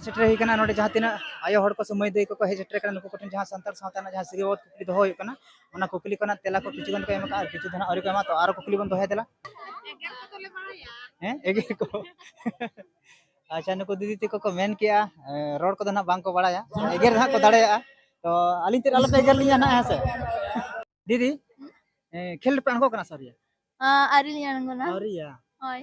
ᱥᱮᱴᱮᱨ ᱦᱩᱭ ᱠᱟᱱᱟ ᱱᱚᱰᱮ ᱡᱟᱦᱟᱸ ᱛᱤᱱᱟᱹᱜ ᱟᱭᱳ ᱦᱚᱲ ᱠᱚ ᱥᱮ ᱢᱟᱹᱭ ᱫᱟᱹᱭ ᱠᱚᱠᱚ ᱦᱮᱡ ᱥᱮᱴᱮᱨ ᱠᱟᱱᱟ ᱱᱩᱠᱩ ᱠᱚᱴᱷᱮᱱ ᱡᱟᱦᱟᱸ ᱥᱟᱱᱛᱟᱲ ᱥᱟᱶᱛᱟ ᱨᱮᱱᱟᱜ ᱡᱟᱦᱟᱸ ᱥᱤᱨᱤᱭᱟᱵᱟᱫ ᱠᱩᱠᱞᱤ ᱫᱚᱦᱚ ᱦᱩᱭᱩᱜ ᱠᱟᱱᱟ ᱚᱱᱟ ᱠᱩᱠᱞᱤ ᱠᱚ ᱨᱮᱱᱟᱜ ᱛᱮᱞᱟ ᱠᱚ ᱠᱤᱪᱷᱩ ᱜᱟᱱ ᱠᱚ ᱮᱢ ᱟᱠᱟᱫᱼᱟ ᱟᱨ ᱠᱤᱪᱷᱩ ᱫᱚ ᱱᱟᱜ ᱟᱹᱣᱨᱤ ᱠᱚ ᱮᱢᱟ ᱛᱚ ᱟᱨᱚ ᱠᱩᱠᱞᱤ ᱵᱚᱱ ᱫᱚᱦᱚᱭᱟ ᱫᱮᱞᱟ ᱦᱮᱸ ᱮᱜᱮᱨ ᱠᱚ ᱟᱪᱪᱷᱟ ᱱᱩᱠᱩ ᱫᱤᱫᱤ ᱛᱟᱠᱚ ᱠᱚ ᱢᱮᱱ ᱠᱮᱜᱼᱟ ᱨᱚᱲ ᱠᱚᱫᱚ ᱱᱟᱜ ᱵᱟᱝᱠᱚ ᱵᱟᱲᱟᱭᱟ ᱮᱜᱮᱨ ᱱᱟᱜ ᱠᱚ ᱫᱟᱲᱮᱭᱟᱜᱼᱟ ᱛᱚ ᱟᱹᱞᱤᱧ ᱛᱮᱫ ᱟᱞᱚᱯᱮ ᱮᱜᱮᱨ ᱞᱤᱧᱟ ᱱᱟᱜ ᱦᱮᱸ ᱥᱮ ᱫᱤᱫᱤ ᱠᱷᱮᱞ ᱨᱮᱯᱮ ᱟᱬᱜᱚ ᱠᱟᱱᱟ ᱥᱟᱹᱨᱤᱭᱟ ᱟᱹᱣᱨᱤ ᱞᱤᱧ ᱟᱬᱜᱚᱱᱟ ᱟᱹᱣᱨᱤᱭᱟ ᱦᱳᱭ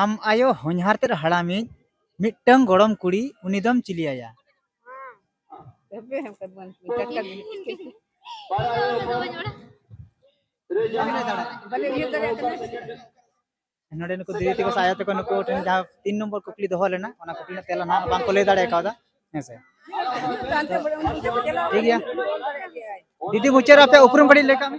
ᱟᱢ ᱟᱭᱳ ᱦᱚᱧᱦᱟᱨ ᱛᱮᱫ ᱦᱟᱲᱟᱢᱤᱡ ᱢᱤᱫᱴᱟᱝ ᱜᱚᱲᱚᱢ ᱠᱩᱲᱤ ᱩᱱᱤ ᱫᱚᱢ ᱪᱤᱞᱤᱭᱟᱭᱟ ᱱᱚᱰᱮ ᱱᱩᱠᱩ ᱫᱤᱫᱤ ᱛᱮᱠᱚ ᱥᱟᱭᱟ ᱛᱮᱠᱚ ᱱᱩᱠᱩ ᱴᱷᱮᱱ ᱡᱟᱦᱟᱸ ᱛᱤᱱ ᱱᱚᱢᱵᱚᱨ ᱠᱩᱠᱞᱤ ᱫᱚᱦᱚ ᱞᱮᱱᱟ ᱚᱱᱟ ᱠᱩᱠᱞᱤ ᱨᱮᱱᱟᱜ ᱛᱮᱞᱟ ᱱᱟᱦᱟᱜ ᱵᱟᱝᱠᱚ ᱞᱟᱹᱭ ᱫᱟᱲᱮ ᱠᱟᱣᱫᱟ ᱦᱮᱸ ᱥᱮ ᱴᱷᱤᱠ ᱜᱮᱭᱟ ᱫᱤᱫᱤ ᱢᱩᱪᱟᱹᱫ ᱟᱯᱮ ᱩᱯᱨᱩᱢ ᱠᱟᱹᱴᱤᱡ ᱞᱟᱹᱭ ᱠᱟᱜ ᱢᱮ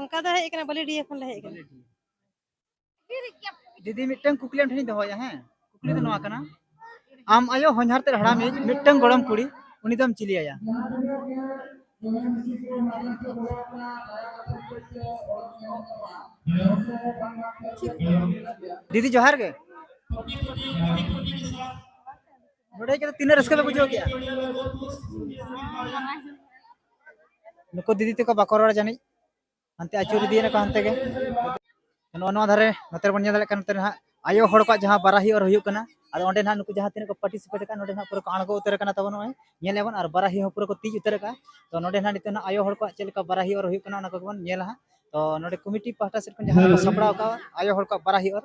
ᱚᱱᱠᱟ ᱫᱚ ᱦᱮᱡ ᱟᱠᱟᱱᱟ ᱵᱟᱹᱞᱤᱰᱤᱭᱟᱹ ᱠᱷᱚᱱ ᱞᱮ ᱦᱮᱡ ᱟᱠᱟᱱᱟ ᱫᱤᱫᱤ ᱢᱤᱫᱴᱟᱝ ᱠᱩᱠᱞᱤ ᱟᱢ ᱴᱷᱮᱱᱤᱧ ᱫᱚᱦᱚᱭᱟ ᱦᱮᱸ ᱠᱩᱠᱞᱤ ᱫᱚ ᱱᱚᱣᱟ ᱠᱟᱱᱟ ᱟᱢ ᱟᱭᱳ ᱦᱚᱧᱦᱟᱨ ᱛᱮ ᱦᱟᱲᱟᱢᱤᱡ ᱢᱤᱫᱴᱟᱝ ᱜᱚᱲᱚᱢ ᱠᱩᱲᱤ ᱩᱱᱤ ᱫᱚᱢ ᱪᱤᱞᱤᱭᱟᱭᱟ ᱫᱤᱫᱤ ᱡᱚᱦᱟᱨ ᱜᱮ ᱱᱚᱰᱮ ᱠᱟᱛᱮ ᱛᱤᱱᱟᱹᱜ ᱨᱟᱹᱥᱠᱟᱹ ᱯᱮ ᱵᱩᱡᱷᱟᱹᱣ ᱠᱮᱜᱼᱟ ᱱᱩᱠᱩ ᱫᱤᱫᱤ ᱛᱮᱠᱚ ᱵᱟᱠᱚ ᱨᱚᱲ ᱡᱟᱹᱱᱤᱡ ᱦᱟᱱᱛᱮ ᱟᱹᱪᱩᱨ ᱤᱫᱤᱭᱮᱱᱟ ᱠᱚ ᱦᱟᱱᱛᱮ ᱜᱮ ᱱᱚᱣᱟ ᱱᱚᱣᱟ ᱫᱷᱟᱨᱮ ᱱᱚᱛᱮ ᱵᱚᱱ ᱧᱮᱞ ᱫᱟᱲᱮᱭᱟᱜ ᱠᱟᱱᱟ ᱱᱚᱛᱮ ᱱᱟᱦᱟᱜ ᱟᱭᱳ ᱦᱚᱲ ᱠᱚᱣᱟᱜ ᱡᱟᱦᱟᱸ ᱵᱟᱨᱟᱦᱤ ᱚᱨ ᱦᱩᱭᱩᱜ ᱠᱟᱱᱟ ᱟᱫᱚ ᱚᱸᱰᱮ ᱱᱟᱦᱟᱜ ᱱᱩᱠᱩ ᱡᱟᱦᱟᱸ ᱛᱤᱱᱟᱹᱜ ᱠᱚ ᱯᱟᱨᱴᱤᱥᱤᱯᱮᱴ ᱟᱠᱟᱫ ᱱᱚᱰᱮ ᱱᱟᱦᱟᱜ ᱯᱩᱨᱟᱹ ᱠᱚ ᱟᱬᱜᱚ ᱩᱛᱟᱹᱨ ᱟᱠᱟᱱᱟ ᱛᱟᱵᱚᱱ ᱱᱚᱜᱼᱚᱭ ᱧᱮᱞ ᱟᱵᱚᱱ ᱟᱨ ᱵᱟᱨᱟᱦᱤ ᱦᱚᱸ ᱯᱩᱨᱟᱹ ᱠᱚ ᱛᱤᱡ ᱩᱛᱟᱹᱨ ᱟᱠᱟᱫᱼᱟ ᱛᱚ ᱱᱚᱰᱮ ᱱᱟᱦᱟᱜ ᱱᱤᱛᱚᱜ ᱱᱟᱦᱟᱜ ᱟᱭᱳ ᱦᱚᱲ ᱠᱚᱣᱟᱜ ᱪᱮᱫ ᱞᱮᱠᱟ ᱵᱟᱨᱟᱦᱤ ᱚᱨ ᱦᱩᱭᱩᱜ ᱠᱟᱱᱟ ᱚᱱᱟ ᱠᱚᱜᱮ ᱵᱚᱱ ᱧᱮᱞᱟ ᱦᱟᱸᱜ ᱛᱚ ᱱᱚᱰᱮ ᱠᱚᱢᱤᱴᱤ ᱯᱟᱦᱴᱟ ᱥᱮᱫ ᱠᱷᱚᱱ ᱡᱟᱦᱟᱸ ᱠᱚ ᱥᱟᱯᱲᱟᱣ ᱟᱠᱟᱫᱼᱟ ᱟᱭᱳ ᱦᱚᱲ ᱠᱚᱣᱟᱜ ᱵᱟᱨᱟᱦᱤ ᱚᱨ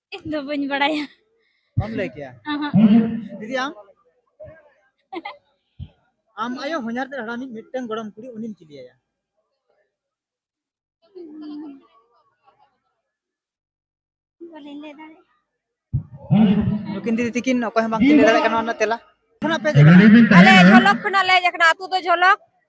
ᱤᱧ ᱫᱚ ᱵᱟᱹᱧ ᱵᱟᱲᱟᱭᱟ ᱵᱟᱢ ᱞᱟᱹᱭ ᱠᱮᱭᱟ ᱫᱤᱫᱤ ᱟᱢ ᱟᱢ ᱟᱭᱳ ᱦᱚᱧᱟᱨ ᱛᱮ ᱦᱟᱲᱟᱢᱤᱡ ᱢᱤᱫᱴᱟᱝ ᱜᱚᱲᱚᱢ ᱠᱩᱲᱤ ᱩᱱᱤᱢ ᱪᱤᱞᱤᱭᱟᱭᱟ ᱵᱟᱹᱞᱤᱧ ᱞᱟᱹᱭ ᱫᱟᱲᱮᱭᱟᱜᱼᱟ ᱱᱩᱠᱤᱱ ᱫᱤᱫᱤ ᱛᱤᱠᱤᱱ ᱚᱠᱚᱭ ᱦᱚᱸ ᱵᱟᱝᱠᱤᱱ ᱞᱟᱹᱭ ᱫᱟᱲᱮᱭᱟᱜ ᱠᱟᱱᱟ ᱚᱱᱟ ᱛᱮᱞᱟ ᱠᱷᱚᱱᱟᱜ ᱯᱮ ᱟᱞᱮ ᱡᱷᱚᱞᱚᱠ ᱠᱷᱚᱱᱟᱜ ᱞᱮ ᱦᱮᱡ ᱟᱠᱟᱱᱟ ᱟᱛᱳ ᱫᱚ ᱡᱷᱚᱞᱚᱠ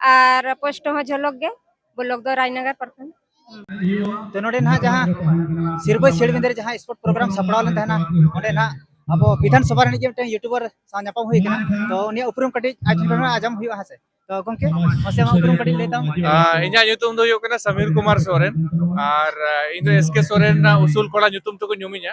ᱟᱨ ᱯᱳᱥᱴ ᱦᱚᱸ ᱡᱷᱚᱞᱚᱠ ᱜᱮ ᱵᱞᱚᱠ ᱫᱚ ᱨᱟᱡᱽᱱᱟᱜᱟᱨ ᱯᱨᱚᱠᱷᱚᱸᱰ ᱛᱚ ᱱᱚᱰᱮ ᱱᱟᱦᱟᱜ ᱡᱟᱦᱟᱸ ᱥᱤᱨᱵᱟᱹ ᱥᱮᱲᱵᱤᱸᱫᱟᱹ ᱨᱮ ᱡᱟᱦᱟᱸ ᱥᱯᱳᱨᱴ ᱯᱨᱳᱜᱨᱟᱢ ᱥᱟᱯᱲᱟᱣ ᱞᱮᱱ ᱛᱟᱦᱮᱱᱟ ᱚᱸᱰᱮ ᱱᱟᱦᱟᱜ ᱟᱵᱚ ᱵᱤᱫᱷᱟᱱ ᱥᱚᱵᱷᱟ ᱨᱤᱱᱤᱡ ᱜᱮ ᱢᱤᱫᱴᱮᱱ ᱭᱩᱴᱩᱵᱟᱨ ᱥᱟᱶ ᱧᱟᱯᱟᱢ ᱦᱩᱭ ᱠᱟᱱᱟ ᱛᱚ ᱩᱱᱤᱭᱟᱜ ᱩᱯᱨᱩᱢ ᱠᱟᱹᱴᱤᱡ ᱟᱡ ᱴᱷᱮᱱ ᱠᱷᱚᱱ ᱟᱸᱡᱚᱢ ᱦᱩᱭᱩᱜᱼᱟ ᱦᱮᱸ ᱥᱮ ᱛᱚ ᱜᱚᱝᱠᱮ ᱢᱟᱥᱮ ᱟᱢᱟᱜ ᱩᱯᱨᱩᱢ ᱠᱟᱹᱴᱤᱡ ᱞᱟᱹᱭ ᱛᱟᱢ ᱤᱧᱟᱹᱜ ᱧᱩᱛᱩᱢ ᱫᱚ ᱦᱩᱭᱩᱜ ᱠᱟᱱᱟ ᱥᱟᱢᱤᱨ ᱠᱩᱢᱟᱨ ᱥᱚᱨᱮᱱ ᱟᱨ ᱤᱧ ᱫᱚ ᱮᱥ ᱠᱮ ᱥᱚᱨᱮᱱ ᱩᱥᱩᱞ ᱠᱚᱲᱟ ᱧᱩᱛᱩᱢ ᱛᱮᱠᱚ ᱧᱩᱢᱤᱧᱟ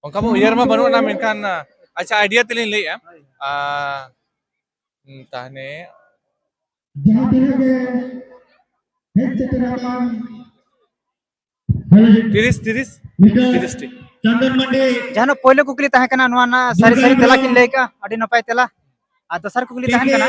ᱚᱱᱠᱟ ᱢᱟ ᱩᱭᱦᱟᱹᱨ ᱢᱟ ᱵᱟᱹᱱᱩᱜ ᱟᱱᱟ ᱢᱮᱱᱠᱷᱟᱱ ᱟᱪᱪᱷᱟ ᱟᱭᱰᱤᱭᱟ ᱛᱮᱞᱤᱧ ᱞᱟᱹᱭᱮᱜᱼᱟ ᱛᱟᱦᱚᱞᱮ ᱡᱟᱦᱟᱸ ᱛᱤᱱᱟᱹᱜ ᱜᱮ ᱦᱮᱡ ᱥᱮᱴᱮᱨ ᱟᱠᱟᱱ ᱛᱤᱨᱤᱥ ᱛᱤᱨᱤᱥ ᱛᱤᱨᱤᱥ ᱴᱤ ᱪᱟᱱᱫᱚᱱ ᱢᱟᱱᱰᱤ ᱡᱟᱦᱟᱸ ᱯᱳᱭᱞᱳ ᱠᱩᱠᱞᱤ ᱛᱟᱦᱮᱸ ᱠᱟᱱᱟ ᱱᱚᱣᱟ ᱨᱮᱱᱟᱜ ᱥᱟᱹᱨᱤ ᱥᱟᱹᱨᱤ ᱛᱮᱞᱟ ᱠᱤᱱ ᱞᱟᱹᱭ ᱠᱟᱜᱼᱟ ᱟᱹᱰᱤ ᱱᱟᱯᱟᱭ ᱛᱮᱞᱟ ᱟᱨ ᱫᱚᱥᱟᱨ ᱠᱩᱠᱞᱤ ᱛᱟᱦᱮᱸ ᱠᱟᱱᱟ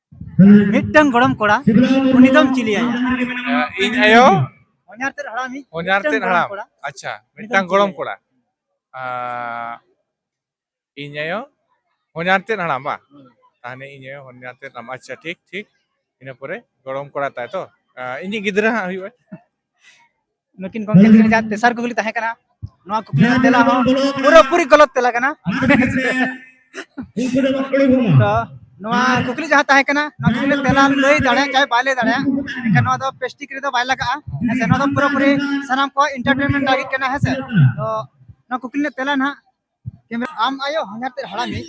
ᱢᱤᱫᱴᱟᱝ ᱜᱚᱲᱚᱢ ᱠᱚᱲᱟ ᱩᱱᱤ ᱫᱚᱢ ᱪᱤᱞᱤᱭᱟᱭᱟ ᱤᱧ ᱟᱭᱳ ᱦᱚᱧᱟᱨ ᱛᱮᱫ ᱦᱟᱲᱟᱢ ᱤᱡ ᱦᱚᱧᱟᱨ ᱛᱮᱫ ᱦᱟᱲᱟᱢ ᱟᱪᱪᱷᱟ ᱢᱤᱫᱴᱟᱝ ᱜᱚᱲᱚᱢ ᱠᱚᱲᱟ ᱤᱧ ᱟᱭᱳ ᱦᱚᱧᱟᱨ ᱛᱮᱫ ᱦᱟᱲᱟᱢ ᱵᱟ ᱛᱟᱦᱚᱞᱮ ᱤᱧ ᱟᱭᱳ ᱦᱚᱧᱟᱨ ᱛᱮᱫ ᱦᱟᱲᱟᱢ ᱟᱪᱪᱷᱟ ᱴᱷᱤᱠ ᱴᱷᱤᱠ ᱤᱱᱟᱹ ᱯᱚᱨᱮ ᱜᱚᱲᱚᱢ ᱠᱚᱲᱟ ᱛᱟᱭ ᱛᱚ ᱤᱧᱤᱡ ᱜᱤᱫᱽᱨᱟᱹ ᱦᱟᱸᱜ ᱦᱩᱭᱩᱜᱼᱟ ᱱᱩᱠᱤᱱ ᱜᱚᱢᱠᱮ ᱡᱟᱦᱟᱸ ᱛᱮᱥᱟᱨ ᱠᱩᱠᱞᱤ ᱛᱟᱦᱮᱸ ᱠᱟᱱᱟ ᱱᱚᱣᱟ ᱠᱩᱠᱞᱤ ᱨᱮᱱᱟᱜ ᱛᱮᱞᱟ ᱦᱚᱸ ᱯᱩᱨᱟᱹᱯᱩᱨᱤ ᱜᱚᱞᱚᱛ ᱛᱮᱞᱟ ᱠᱟᱱᱟ ᱛᱚ ᱱᱚᱣᱟ ᱠᱩᱠᱞᱤ ᱡᱟᱦᱟᱸ ᱛᱟᱦᱮᱸ ᱠᱟᱱᱟ ᱱᱚᱣᱟ ᱠᱩᱠᱞᱤ ᱛᱮᱞᱟ ᱞᱟᱹᱭ ᱫᱟᱲᱮᱭᱟᱜ ᱪᱟᱦᱮ ᱵᱟᱭ ᱞᱟᱹᱭ ᱫᱟᱲᱮᱭᱟᱜ ᱮᱱᱠᱷᱟᱱ ᱱᱚᱣᱟ ᱫᱚ ᱯᱮᱥᱴᱤᱠ ᱨᱮᱫᱚ ᱵᱟᱭ ᱞᱟᱜᱟᱜᱼᱟ ᱦᱮᱸᱥᱮ ᱱᱚᱣᱟ ᱫᱚ ᱯᱩᱨᱟᱹᱯᱩᱨᱤ ᱥᱟᱱᱟᱢ ᱠᱚ ᱤᱱᱴᱟᱨᱴᱮᱱᱢᱮᱱᱴ ᱞᱟᱹᱜᱤᱫ ᱠᱟᱱᱟ ᱦᱮᱸᱥᱮ ᱛᱚ ᱱᱚᱣᱟ ᱠᱩᱠᱞᱤ ᱨᱮᱱᱟᱜ ᱛᱮᱞᱟ ᱱᱟᱦᱟᱜ ᱠᱮᱢᱮᱨᱟ ᱟᱢ ᱟᱭᱳ ᱦᱚᱧᱦᱟᱨ ᱛᱮᱫ ᱦᱟᱲᱟᱢᱤᱡ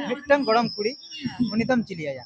ᱢᱤᱫᱴᱟᱝ ᱜᱚᱲᱚᱢ ᱠᱩᱲᱤ ᱩᱱᱤ ᱫᱚᱢ ᱪᱤᱞᱤᱭᱟᱭᱟ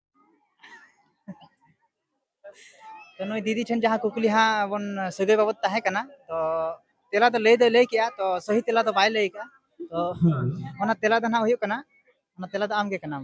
ᱛᱚ ᱱᱩᱭ ᱫᱤᱫᱤ ᱴᱷᱮᱱ ᱡᱟᱦᱟᱸ ᱠᱩᱠᱞᱤ ᱦᱟᱸᱜ ᱵᱚᱱ ᱥᱟᱹᱜᱟᱹᱭ ᱵᱟᱵᱚᱛ ᱛᱟᱦᱮᱸ ᱠᱟᱱᱟ ᱛᱚ ᱛᱮᱞᱟ ᱫᱚ ᱞᱟᱹᱭ ᱫᱚᱭ ᱞᱟᱹᱭ ᱠᱮᱜᱼᱟ ᱛᱚ ᱥᱟᱹᱦᱤ ᱛᱮᱞᱟ ᱫᱚ ᱵᱟᱭ ᱞᱟᱹᱭ ᱠᱟᱜᱼᱟ ᱛᱚ ᱚᱱᱟ ᱛᱮᱞᱟ ᱫᱚ ᱦᱟᱸᱜ ᱦᱩᱭᱩᱜ ᱠᱟᱱᱟ ᱚᱱᱟ ᱛᱮᱞᱟ ᱫᱚ ᱟᱢᱜᱮ ᱠᱟᱱᱟᱢ